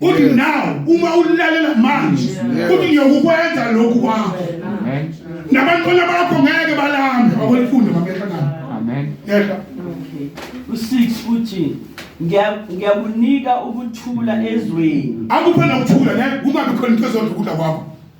Kuthi now uma ulalela manje kuthi ngiyokukwenza lokhu kwakho. Amen. Nabantwana bakho ngeke balambe akwelifunda mabehla ngani. Amen. Yehla. U6 uthi ngiyakunika ukuthula ezweni. Akuphe nokuthula ne kungabi khona into ezodla ukudla kwakho.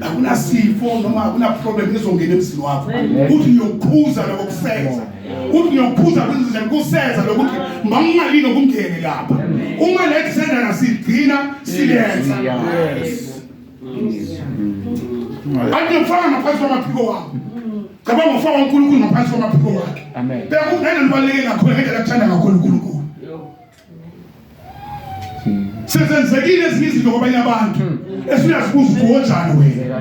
akunasifo noma akunaproblem ezongena emzini wakho uthi ngiyokukhuza lokho kuseza uthi ngiyokukhuza kwenzize kuseza lokuthi mangingalini okungene lapha uma le kusendana sigcina silenza andiyokufaka ngaphansi kwamaphiko wami cabanga ngokufaka unkulunkulu ngaphansi kwamaphiko wakhe beka ungena libaluleke kakhulu ngendlela akuthanda kakhulu unkulunkulu sezenzekile ezinye izinto kwabanye abantu hmm. esuyazibuza ukuthi wonjani wena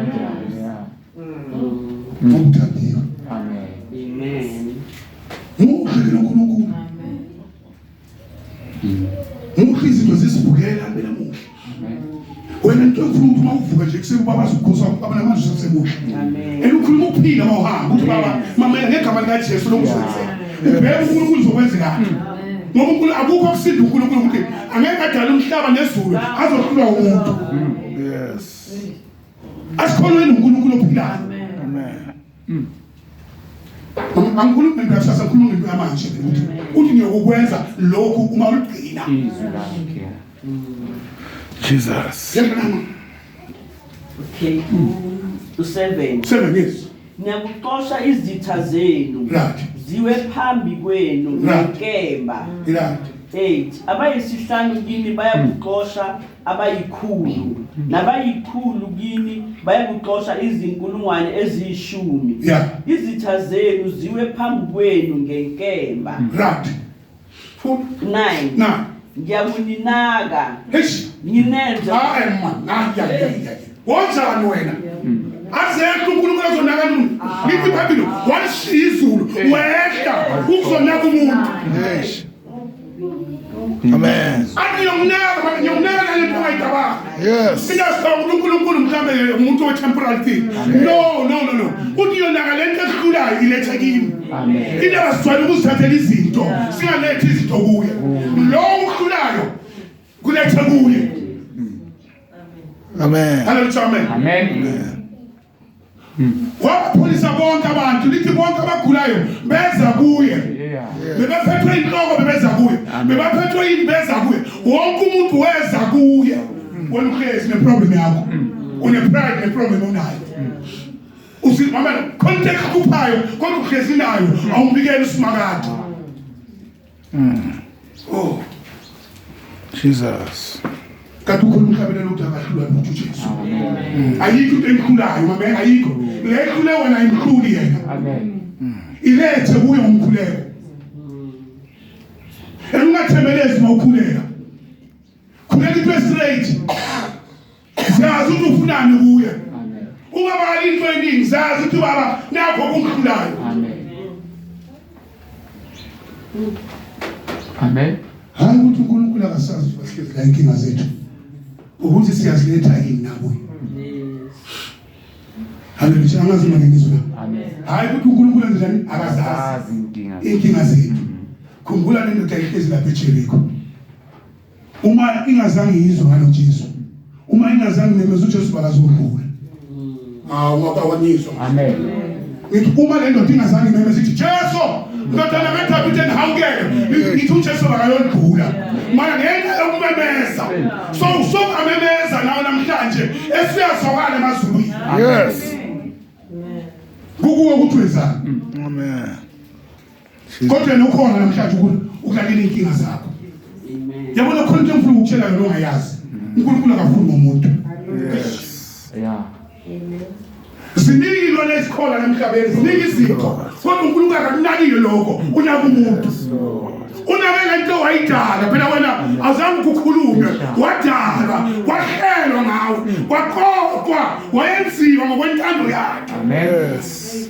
ngokuthandiwe muhle nonkulunkulu muhle izinto zizibukela mina muhle wena nto ufuna ukuthi mawuvuka nje kuseni ubaba azokukhosa ubaba namanje usemusha and ukhuluma ukuphila mawuhamba ukuthi baba mama ngegama likaJesu lokuzenzela ubheke uNkulunkulu uzokwenzekani ngoba uNkulunkulu akukho kusinda uNkulunkulu ukuthi angeke adale umhlaba nezulu azohlulwa umuntu yes asikhonweni uNkulunkulu ophilayo Mm. Angikhulumi ngempela kusasa khuluma ngempela manje ukuthi uthi ngiyokukwenza lokhu uma uligcina. Izwi lakhe. Jesus. Yabona. Okay. U7. 7 yes. Ngiyakuxosha izitha zenu. Right. Ziwe phambi kwenu ngenkemba. Right. 8 abayisihlanu kini bayakuxosha abayikhulu nabayikhulu kini bayakuxosha izinkulungwane eziyishumi Yeah. izitha zenu ziwe phambi kwenu ngenkemba Right. Full. 9 Na. ngiyakuninaka Eish. nginenze Hayi man. Hayi hayi hayi. hayi. Wonjani wena? Azekho uNkulunkulu azonaka umuntu. Ngithi phambili washiya izulu wehla ukuzonaka umuntu. Eish. Amen. Athi ngiyokunaka manje ngiyokunaka nale nto ongayicabanga. Yes. Mina sicabanga ukuthi uNkulunkulu mhlambe umuntu we temporal thing. No, no, no, no. Uthi yonaka le nto esikhulayo iletha kimi. Amen. Into abasijwayele ukuzithathela izinto singalethi izinto kuye. Lo ukhulayo kuletha kuye. Amen. Hallelujah. Amen. Amen. wabapholisa bonke abantu lithi bonke abagulayo beza kuye bebephethwe inhloko bebeza kuye bebaphethwe yini beza kuye wonke umuntu weza kuye wena uhlezi neproblem yakho unepride neproblem onayo usimama khona into ekhuphayo kodwa uhlezi nayo awumbikele usimakade Mm. Oh. Jesus. Kanti ukhona umhlabelelo ukuthi akahlulwa lutho uJesu. Mm. Ayikho into emkhulayo, mama, ayikho. Mm. Le ekhule wena imkhulu yena. Amen. Mm. Ilethe kuyo umkhuleko. Engathemelezi mawukhuleka. Khuleka into straight. Siyazi ukuthi ufunani kuye. Ungabali into eningi siyazi ukuthi baba nakho kumhlulayo. Amen. Amen. Hayi ukuthi uNkulunkulu akasazi ukuthi bahlezi la inkinga zethu. Ukuthi siyaziletha yini nabo. Haleluya. Angazi manje ngizwe la. Amen. Hayi ukuthi uNkulunkulu anjani akazazi inkinga zethu. Khumbula nendoda ehlezi lapha eJeriko. uma ingazange izwe ngalo Jesu uma ingazange memeza uJesu bakazombula awakawanyiswa amen ngithi uma le ndoda ingazange memeza ithi Jesu ndodana kaDavide ndihawukele ngithi uJesu bakayolibhula mara ngenxa yokumemeza so usokamemeza nawo namhlanje esiyazokala emazulwini yes kukuwe ukuthi wenzani amen kodwa nokhona namhlanje ukuthi ukulalela inkinga zakho yabona khona into engifuna ukutshela yona ongayazi uNkulunkulu akafuni ngomuntu yeah ziningi lona ezikhona namhlabeni ziningi izinto kodwa uNkulunkulu akakunakile lokho unaka umuntu unake lento wayidala phela wena azange ukukhulume wadala wahlelwa ngawe waqoqwa wayenziwa ngokwentando yakhe yes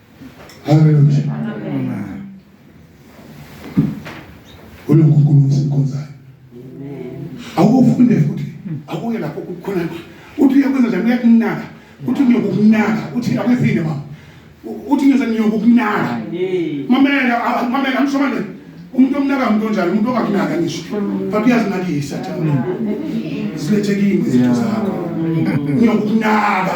Haleluya. Ule uNkulunkulu usikhonzayo. Awufunde futhi akuye lapho kukhona uthi uyakwenza njani uyakunaka uthi ngiyokunaka uthi akwezile mama uthi ngiyoze ngiyokunaka mamela mamela amshomane umuntu omnaka umuntu onjalo umuntu ongakunaka ngisho but uyazinakisa thana zilethekile izinto zakho ngiyokunaka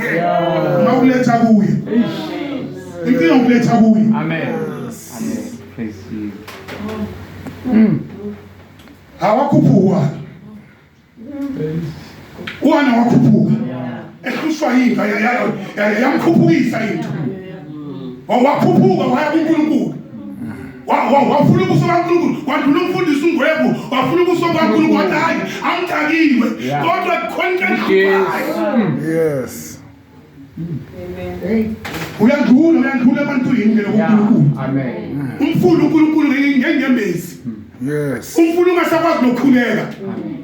Mawuletha kuye. Inkinga ukuletha kuye. Amen. Amen. Praise you. Mm. Hawakupuwa. Wana wakupuwa. Ehlushwa yinto yamkhuphukisa into. Wakhuphuka waya kuNkulunkulu. wafuna ubuso kaNkulunkulu wandula ukufundisa ungwebu wafuna ubuso kaNkulunkulu wathi hayi angithakiwe kodwa kukhona into yes uyandula uyandula ebantwini ke lokuNkulunkulu amen umfuna uNkulunkulu ngenyembezi yes umfuna ungasakwazi nokukhuleka amen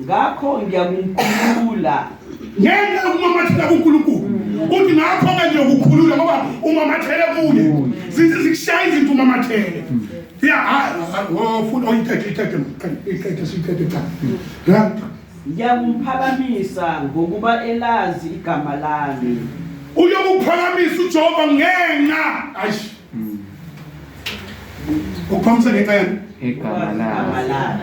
Ngakho ngiyakumkhulula. Ngenxa yokumamathela kuNkulunkulu. Uthi ngakho-ke ngiyokukhulula ngoba umamathele kuye. Zizikushaya izinto umamathele. Ya, hayi, oh, futhi oyithethe, oh, ithethe, ithethe, siyithethe cha. Ya. Ngiyakumphakamisa ngokuba elazi igama lami. Uyokuphakamisa uJehova ngenxa. Ayish. Ukuphakamisa ngenxa yani? Igama lami.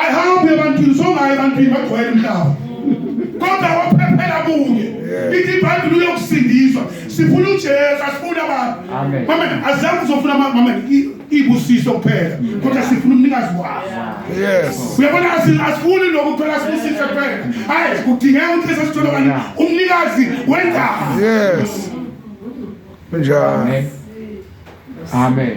ayihambi ebantwini songayo ebantwini bagcwele umhlaba kodwa waphephela kuye ithi ibhayibhile uyokusindiswa sifuna ujesu asifuni abantu mame azange uzofuna mame ibusiso kuphela kodwa sifuna umnikazi waso uyabona asifuni lokhu kuphela sibusise kuphela hayi kudingeka ukuthi bese sithole kanye umnikazi wendaba yes kunjani amen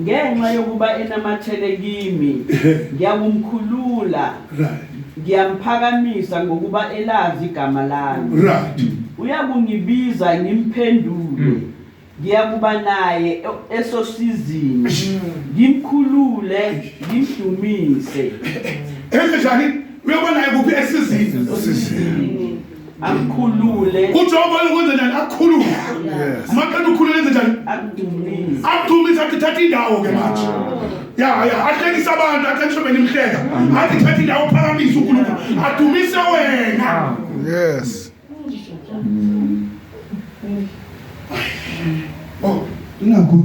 Ngenxa yokuba enamathele kimi, ngiyakumkhulula. Ngiyamphakamisa ngokuba elazi igama lami. Uyakungibiza ngimphendule. Mm. Ngiyakuba naye e-, esosizini. Mm. Ngimkhulule, ngimdumise. Enze njani? Uyoba naye kuphi esizini? akukhulule uJehova uyokwenza njani akukhulule yes maqeda ukhulule enze njani akudumise akudumise athi thatha indawo ke manje ya ya ahlekisa abantu ahlekisa mina imhleka athi thatha indawo phakamise uNkulunkulu adumise wena yes oh ingakho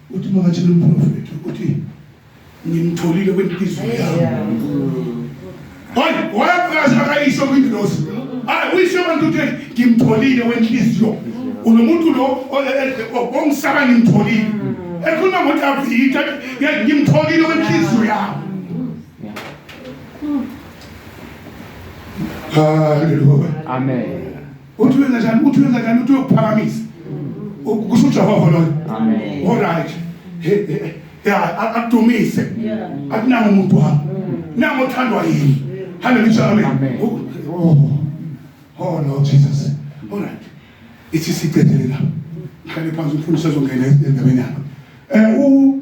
uthi makatshela umprofethi ukuthi ngimtholile kwenhliziyo yami hayi wayakazi akayisho kwingilosi hayi uyisho abantu ukuthi ngimtholile wenhliziyo unomuntu lo ongisaba ngimtholile ekhuluma ngokuthi avitha ngimtholile wenhliziyo yami haleluya amen uthi wenza njani uthi wenza njani uthi uyokuphakamisa kusho uJehova loyo amen all right yeah akudumise akunanga umuntu wami nango othandwa yini haleluya amen oh oh lord jesus all right ithi siqedele la ngihlale phansi umfundisi azongena endabeni yakho eh u